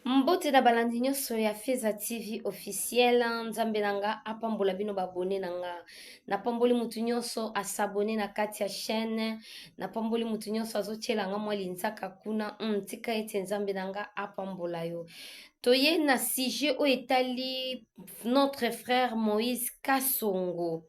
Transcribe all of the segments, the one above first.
Mbote na balandi nyonso ya Feza TV officiel, nzambe na nga apambola bino babone na nga. Napamboli motu nyonso asabone na kati ya chaîne, napamboli motu nyonso azotyela nga mwa linzaka kuna. Mm, tika ete nzambe na nga apambola yo. Toye na sujet oyo etali notre frère Moïse Kasongo.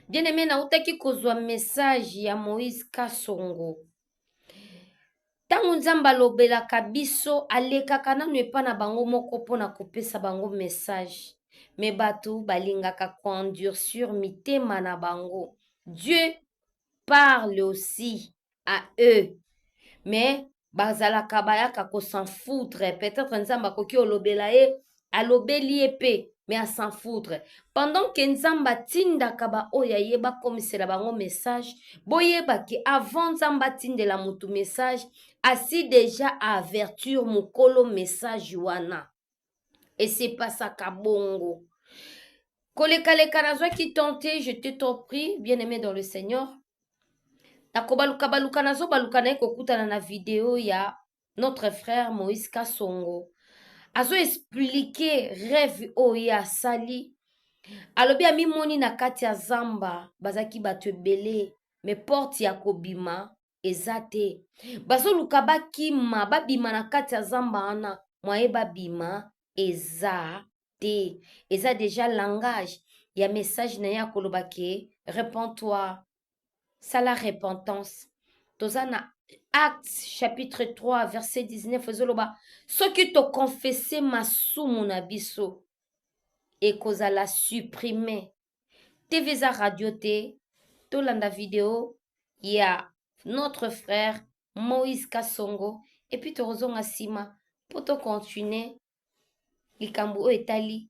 Bien aimé, nautaki kozwa message ya Moïse Kasongo. ntango nzambe alobelaka biso alekaka nanu epa na bango moko mpo na kopesa bango message me bato balingaka koendurcir mitema na bango dieu parle aussi à eux mais bazalaka bayaka kosenfoutre peut-être nzambe akoki olobela ye alobeli ye mpe me a s'en foutre pendant ke nzambe atindaka baoyo ya ye bakomisela bango message boyeba ke avant nzambe atindela motu message asi deja avertir mokolo message wana esepasaka bongo kolekaleka nazwaki temps te je te trop prie bien aimé dans le seigneur nakobalukabaluka nazobaluka naye kokutana na video ya notre frère moïse kasongo azo explike rêve oyo ye asali alobi amimoni na kati ya zamba bazalaki bato ebele me porte ya kobima eza te bazoluka bakima babima na kati ya zamba wana mwaye babima eza te eza deja langage ya message na ye akoloba ke repond toi sala repentance toza na acte chapitre 3 verset 19 ezoloba soki tokonfese masumu na biso ekozala supprime tv eza radio te tolanda video ya notre frère moïse kasongo epuis tokozonga nsima mpo tocontinue likambo oyo etali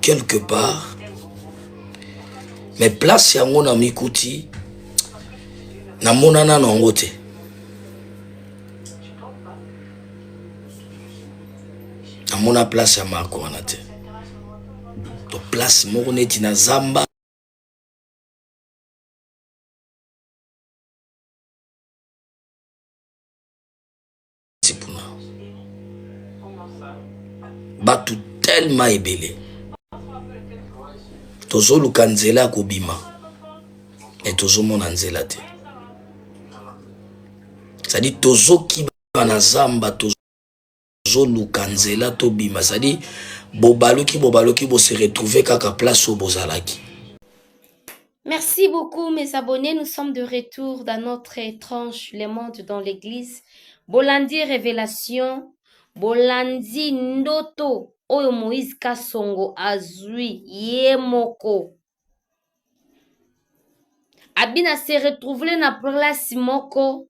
quelque part mais place yango na mikuti namona nano yango te namona place ya marko wana te to place moko neti na zamba makasi kuna bato telema ebele tozoluka nzela ya kobima me tozomona nzela te zali tozokiba na zamba tozoluka nzela tobima zali bobaluki bobaluki bose retrouve kaka place oyo bozalaki Merci beaucoup mes abonnés, nous sommes de retour dans notre étrange Le Monde dans l'Église. Bolandi Révélation, Bolandi Ndoto, Oyo Moïse Kasongo Azui, Yemoko. Abina se retrouver na place moko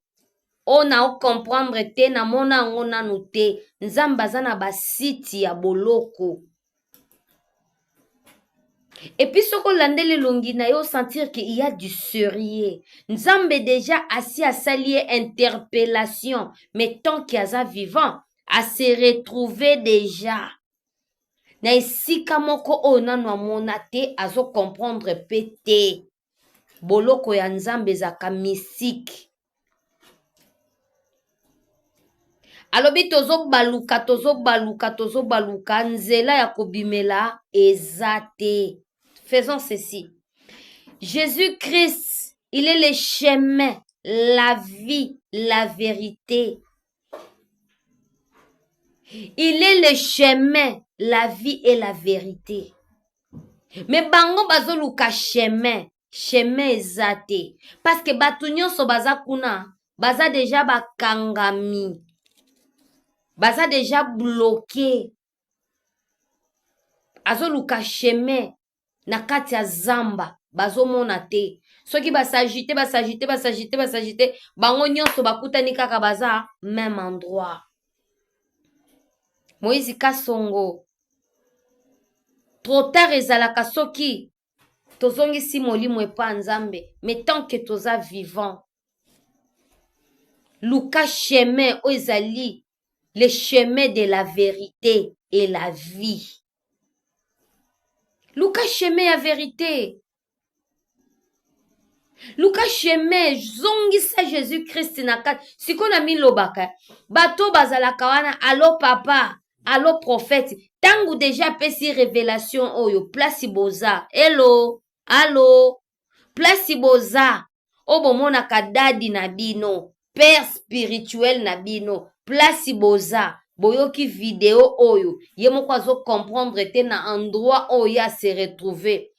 oyo na ocomprendre te namona yango nanu te nzambe aza na basite ya boloko Et puis soko landeli longi na yo sentir que il y a du sérieux. Nzambe déjà asi asali ye interpellation, mais tant qu'il aza vivant, a se retrouver déjà na esika moko oyo nanu amona te, azo comprendre pe te. boloko ya nzambe ezalaka mystique alobi tozobaluka tozobaluka tozobaluka nzela ya kobimela eza te faisons ceci jésus christ il est le chemin la vie la vérité il est le chemin la vie et la vérité me bango bazoluka chemin chemin eza te parceke bato nyonso baza kuna baza deja bakangami baza deja bloke azoluka chemin na kati ya zamba bazomona te soki basagite basagite basagite basagite bango nyonso bakutani kaka baza meme endroit moïse kasongo trop tard ezalaka soki tozongisi molimo epa nzambe mais tant que toza vivant luka chemin oyo ezali le chemin de la verite et la vie luka chemin ya verite luka chemin zongisa jésus krist na kati sikoyo na milobaka bato oyo bazalaka wana alo papa alo prophète ntango deja apesi révélation oyo place boza elo alo place boza oyo bomonaka dadi na bino père spirituel na bino place boza boyoki video oyo ye moko azocomprendre te na endroit oyo ye ase retrouve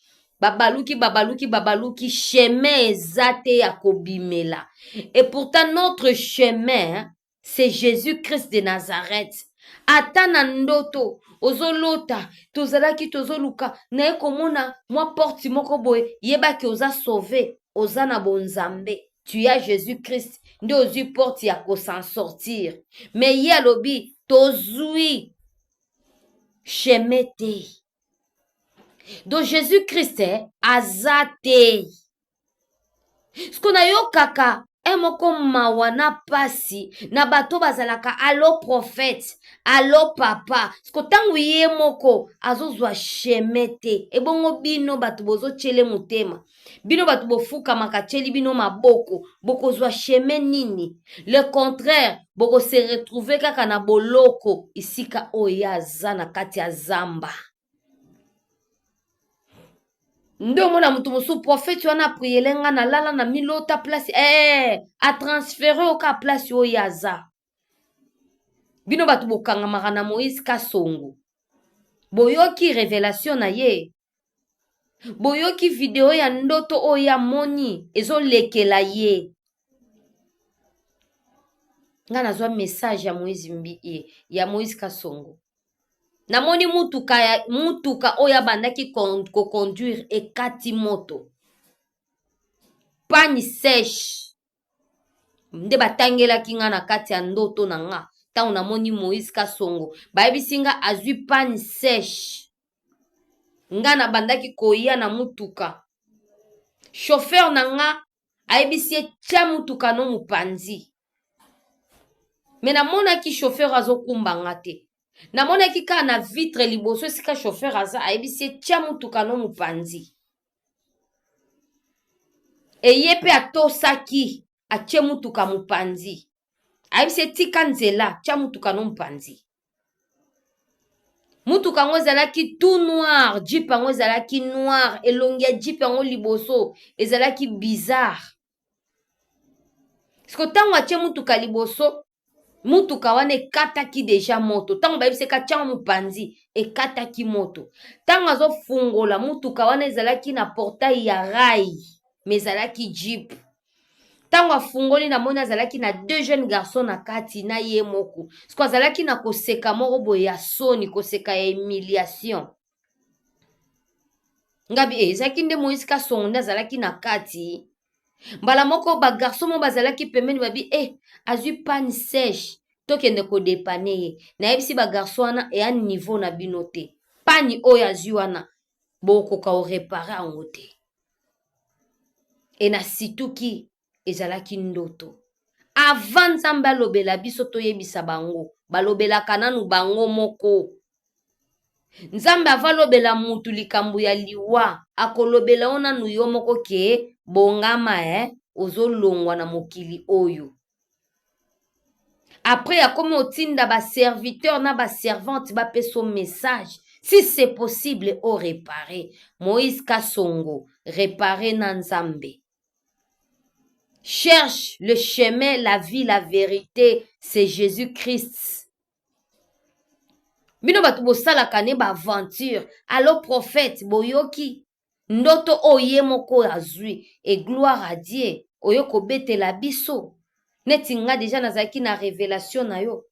babaluki babaluki babaluki chemin eza te ya kobimela et pourtant notre chemin c'est Jésus-Christ de Nazareth. Ata na ndoto ozolota tozalaki tozoluka naye komona mwa porte moko boye yebaki oza sauve oza na bonzambe tu ya Jésus-Christ nde ozwi porte ya kosan sortir mais ye alobi tozwi chemin te donc Jésus-Christ eh, aza te siko nayokaka e moko mawa na mpasi na bato bazalaka alo profete alo papa siko ntango ye moko azozwa sheme te ebongo bino bato bozotyele motema bino bato bofukamaka tyeli bino maboko bokozwa sheme nini le contraire bokose retrouve kaka na boloko esika oyo ye aza na kati ya zamba nde omona moto mosusu profeti wana apriele nga nalala na milota place ee eh, atransfere oka place oyo aza bino bato bokangamaka na moïse kasongo boyoki revelation na ye boyoki video ya ndoto oyo amoni ezolekela ye nga nazwa message ya moïse mbi eh, ya moïse kasongo namoni mutuka ya mutuka oyo abandaki ko conduire ekati moto panne seche nde batangelaki nga na kati ya ndoto na nga ntango namoni moïse kasongo bayebisi nga azwi panne seche nga nabandaki koya na mutuka chauffeur na nga ayebisi ye tya motuka no mopanzi me namonaki chauffeur azokumba nga te namonaki kaka na vitre liboso esika chauffeur aza ayebisi ye tya motuka no mopanzi eye mpe atosaki atye motuka mopanzi ayebisi ye tika nzela tya motuka no mpanzi motuka yango ezalaki tout noir jeep yango ezalaki noir elongi ya jeep yango liboso ezalaki bizarre siko ntango atye motuka liboso motuka wana ekataki deja moto ntango bayebisi ekatyango mopanzi ekataki moto ntango azofungola motuka wana ezalaki na portai ya rai me ezalaki jeep ntango afungoli namoni azalaki na deux jeunes garçon na kati na ye moko siko azalaki na koseka moko boye ya soni koseka ya humiliation ngabi eh, ezalaki nde moïse kasongo nde azalaki na kati mbala moko bagarçon moko bazalaki pembeni babi e eh, azwi pane sèche tokende kodepane ye nayebisi bagarçon wana eya niveau na bino te pani oyo azwi wana bokoka korepare yango te e na situki ezalaki ndoto avant nzambe alobela biso toyebisa bango balobelaka nanu bango moko nzambe avalobela mutu likambo ya liwa akolobela yo nanu yo moko ke bongama e eh? ozolongwa na mokili oyo après akomi otinda baserviteur na baservante bapesa o message si c'est possible o repare moïse kasongo repare na nzambe cherche le chemin la vie la vérité c'est jésus christ bino bato bosalaka ne baaventure alo prophète boyoki ndoto oyo ye moko oyo azwi e gloire à dieu oyo kobetela biso neti nga deja nazalaki na revelation na yo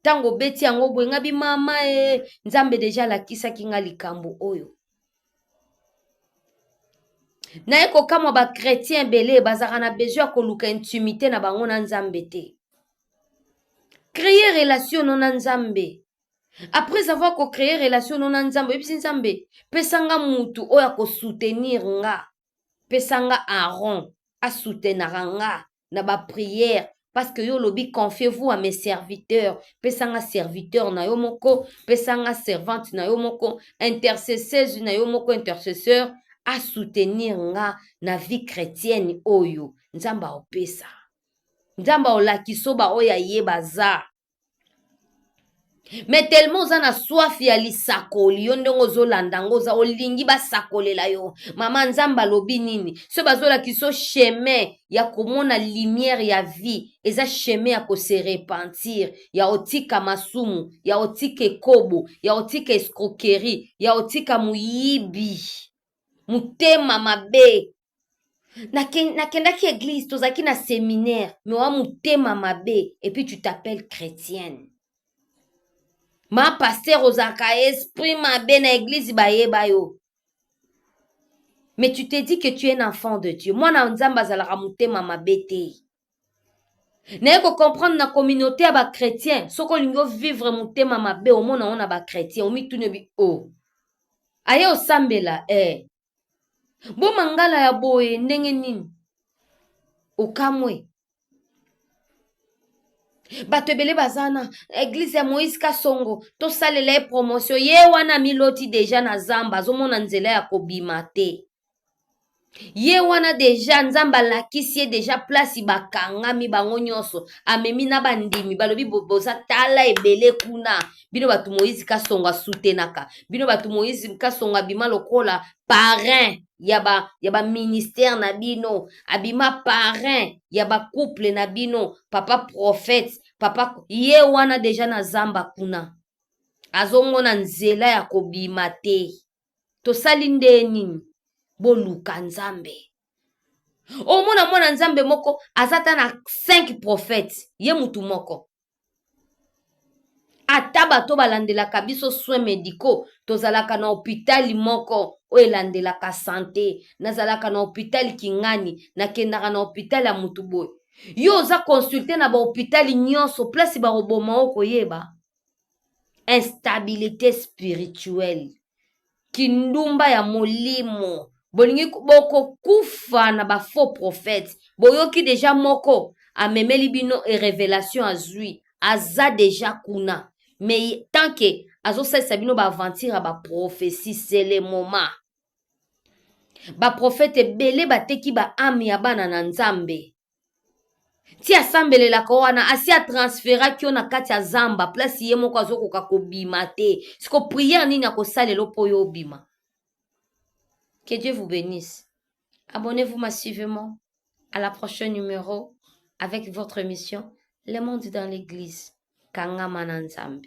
ntango obeti yango boye nga bi mama e nzambe deja alakisaki nga likambo oyo naye kokamwa bakretien ebele bazalaka na besoin ya koluka intimité na bango na nzambe te kreye relation no na nzambe après avoir ko créer relation no na nzambe oyebisi nzambe pesa nga mutu oyo akosoutenir nga pesa nga aron asoutenaka nga na baprière parce que yo olobi confiez-vous à mes serviteurs pesa nga serviteur na yo moko pesa nga servante na yo moko intercesseuse na yo moko intercesseur asoutenir nga na vie chrétienne oyo nzambe aopesa nzambe aolakisa oyo baoyo aye baza me tellement oza na soif ya lisakoli yo ndenge ozolanda yango oza olingi basakolela yo mama nzambe alobi nini so bazolakisa yo chemin ya komona lumière ya vie eza chemin ya kose repentir ya otika masumu ya otika ekobo ya otika escroquerie ya otika moyibi motema mabe nakendaki eglise tozalaki na seminaire me wa motema mabe epuis tu t'appelle chrétienne ma paster ozalaka esprit mabe na eglise bayeba yo mais tu te dis que tu es un enfant de dieu mwana ya nzambe azalaka motema mabe te naye kocomprendre na communauté ya bachrétien soki olingi ovivre motema mabe omona yango na bachrétien omituni obi o oh. aye osambela e eh. bo mangala ya boye ndenge nini okamwe bato ebele baza na eglize ya moïse kasongo tosalela ye promotion ye wana miloti deja na zamba azomona nzela ya kobima te ye wana deja nzambe alakisi ye deja plasi bakangami bango nyonso amemi na bandimi balobi boza tala ebele kuna bino bato moïse kasongo asutenaka bino bato moïse kasongo abima lokola parrain ya ba ya ba ministère na bino abima parrain ya ba couple na bino papa prophète papa ye wana deja na zamba kuna azongona nzela ya kobima te tosali nde nini boluka nzambe omona mwana nzambe moko aza ata na 5 prophète ye mutu moko ata bato balandelaka biso soin medicaux tozalaka na hopitali moko oyo elandelaka sante nazalaka na hopitali kingani nakendaka na hopitali ya motu boye yo oza consulte na bahopitali nyonso place bakoboma okoyeba instabilité spirituelle kindumba ya molimo bolingi bokokufa na bafaux prophète boyoki deja moko amemeli bino e revelation azwi aza deja kuna mais tant ke azosalisa bino baaventure ya baprofesi sele moma baprofete ebele bateki baame ya bana na nzambe ti asambelelaka wana asi atransferaki yo na kati ya zamba place ye moko azokoka kobima te siko priere nini akosalelo mpo yo obima que dieu vous bénisse abonnez vous massivement à la prochaine numéro avec votre émission le monde dans l'église kangama na nzambe